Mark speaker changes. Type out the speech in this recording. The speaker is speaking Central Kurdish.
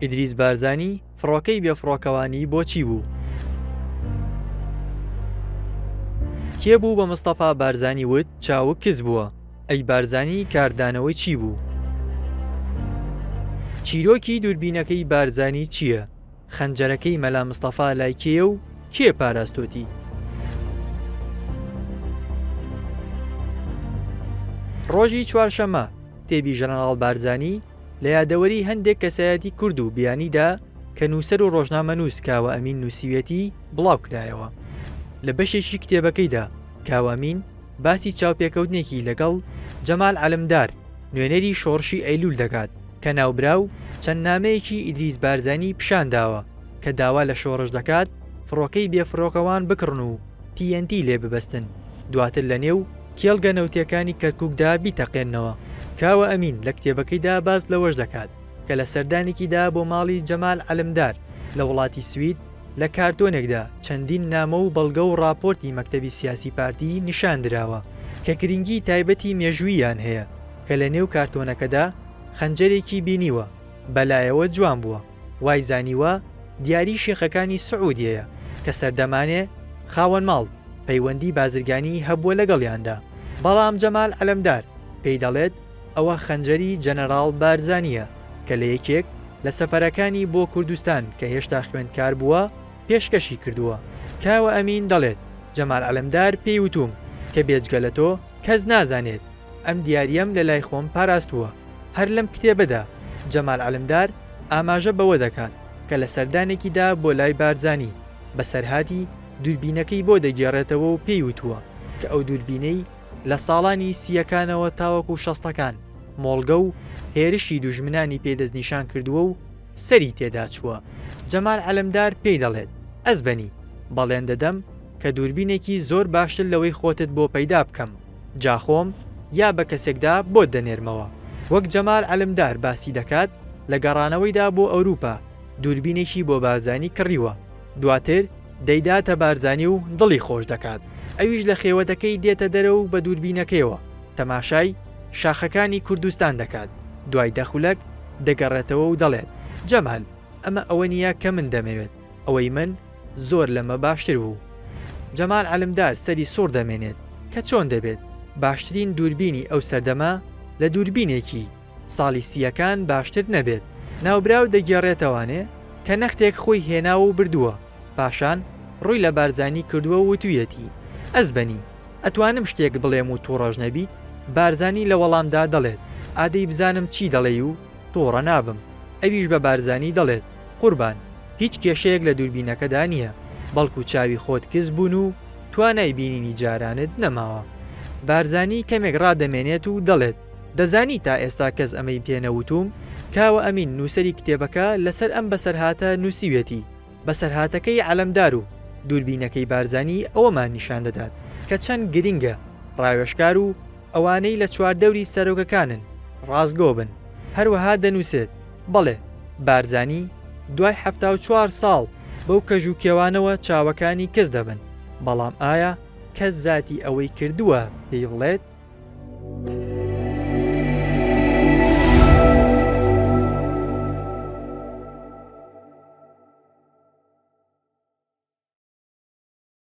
Speaker 1: ئیدریس بارزانی فڕۆکەی بێ فڕۆکەوانی بۆ چی بوو؟ کێ بوو بە مستەفا بارزانی وت چاوک کز بووە؟ ئەی بارزانی کاردانەوەی چی بوو؟ چیرۆکی دووربینەکەی بارزانی چییە؟ خەنجەرەکەی مەلا مستەفا لای کێیە و کێ پاراستۆتی؟ ڕۆژی چوارشەممە کتێبی ژەنەراڵ بارزانی لە یادەوەری هەندێک کەسایەتی کورد و بیانیدا کە نووسەر و ڕۆژنامەنووس کاوە ئەمین نووسیویەتی بڵاو کرایەوە لە بەشێکی کتێبەکەیدا کاوە ئەمین باسی چاوپێکەوتنێکی لەگەڵ جەمال عەلمدار نوێنەری شۆڕشی ئەیلوول دەکات کە ناوبراو چەند نامەیەکی ئیدریس بارزانی پیشان داوە کە داوا لە شۆڕش دەکات فڕۆکەی بێفڕۆکەوان بکڕن و تی ئێن تی لێ ببەستن دواتر لە نێو کێڵگە نەوتییەکانی کەرکووکدا بیتەقێننەوە. کاوە ئەمین لە کتێبەکەیدا باس لەوەش دەکات کە لە سەردانێکیدا بۆ ماڵی جەمال عەلمدار لە وڵاتی سوید لە کارتۆنێکدا چەندین نامە و بەڵگە و ڕاپۆرتی مەکتەبی سیاسی پارتی نیشان دراوە کە گرینگی تایبەتی مێژووییان هەیە کە لە نێو کارتۆنەکەدا خەنجەرێکی بینیوە بە لایەوە جوان بووە وای زانیوە دیاری شێخەکانی سعودیەیە کە سەردەمانێ خاوەن ماڵ پەیوەندی بازرگانیی هەبووە لەگەڵیاندا بەڵام جەمال عەلەمدار پێی دەڵێت ئەوە خەنجەری جەنەراڵ بارزانییە کە لە یەکێک لە سەفەرەکانی بۆ کوردستان کە هێشتا خوێندکار بووە پێشکەشی کردووە. کاوە ئەمین دەڵێت جەمال عەلەمدار پێی وتووم کە بێجگە لە تۆ کەس نازانێت ئەم دیارییەم لە لای خۆم پاراستووە. هەر لەم کتێبەدا جەمال عەلمدار ئاماژە بەوە دەکات کە لە سەردانێکیدا بۆ لای بارزانی بەسەرهاتی دووربینەکەی بۆ دەگێڕێتەوە و پێی وتووە کە ئەو دووربینەی لە ساڵانی سییەکانەوە تاوەکو شەستەکان مۆڵگە و هێرشی دوژمنانی پێ دەستنیشان کردووە و سەری تێدا چووە. جەمال عەلمدار پێی دەڵێت، ئەزبەنی، بەڵێن دەدەم، کە دووربینێکی زۆر باشتر لەوەی خۆتت بۆ پەیدا بکەم جا خۆم یا بە کەسێکدا بۆت دەنێرمەوە. وەک جەمال عەلمدار باسی دەکات لە گەڕانەوەیدا بۆ ئەوروپا دووربینێکی بۆ بارزانی کڕیوە دواتر دەیداتە بارزانی و دڵی خۆش دەکات ئەویش لە خێوەتەکەی دێتە دەرە و بە دووربینەکەیەوە تەماشای شاخەکانی کوردستان دەکات دوای دە خولەک دەگەڕێتەوە و دەڵێت جەمال ئەمە ئەوە نییە کە من دەمەوێت ئەوەی من زۆر لەمە باشتر بوو. جەمال عەلمدار سەری سوڕ دەمێنێت کە چۆن دەبێت باشترین دووربینی ئەو سەردەمە لە دووربینێکی ساڵی سییەکان باشتر نەبێت. ناوبراو دەگێڕێتەوانێ کە نەختێک خۆی هێناوە و بردووە، پاشان ڕووی لە بارزانی کردووە و وتوویەتی، ئەزبەنی، ئەتوانم شتێک بڵێم و تووڕەش نەبیت؟ بارزانی لە وەڵامدا دەڵێت، ئادەی بزانم چی دەڵێی و تووڕە نابم. ئەویش بە بارزانی دەڵێت. قوربان هیچ کێشەیەک لە دووربینەکەدا نییە بەڵکو چاوی خۆت کز بوون و توانای بینینی جارانت نەماوە. بارزانی کەمێک ڕادەمێنێت و دەڵێت، دەزانی تا ئێستا کەس ئەمەی پێ نەوتووم؟ کاوە ئەمین نووسەری کتێبەکە لەسەر ئەم بەسەرهاتە نووسیویەتی، بەسەرهاتەکەی عەلەمدار و دووربینەکەی بارزانی ئەوەمان نیشان دەدات کە چەند گرنگە ڕاوێژکار و ئەوانەی لە چواردەوری سەرۆکەکانن ڕاستگۆ بن. هەروەها دەنووسێت. بەڵێ، بارزانی دوای حەفتا و چوار ساڵ بەو کەژ و کێوانەوە چاوەکانی کز دەبن، بەڵام ئایا کەس زاتی ئەوەی کردووە پێی بڵێت،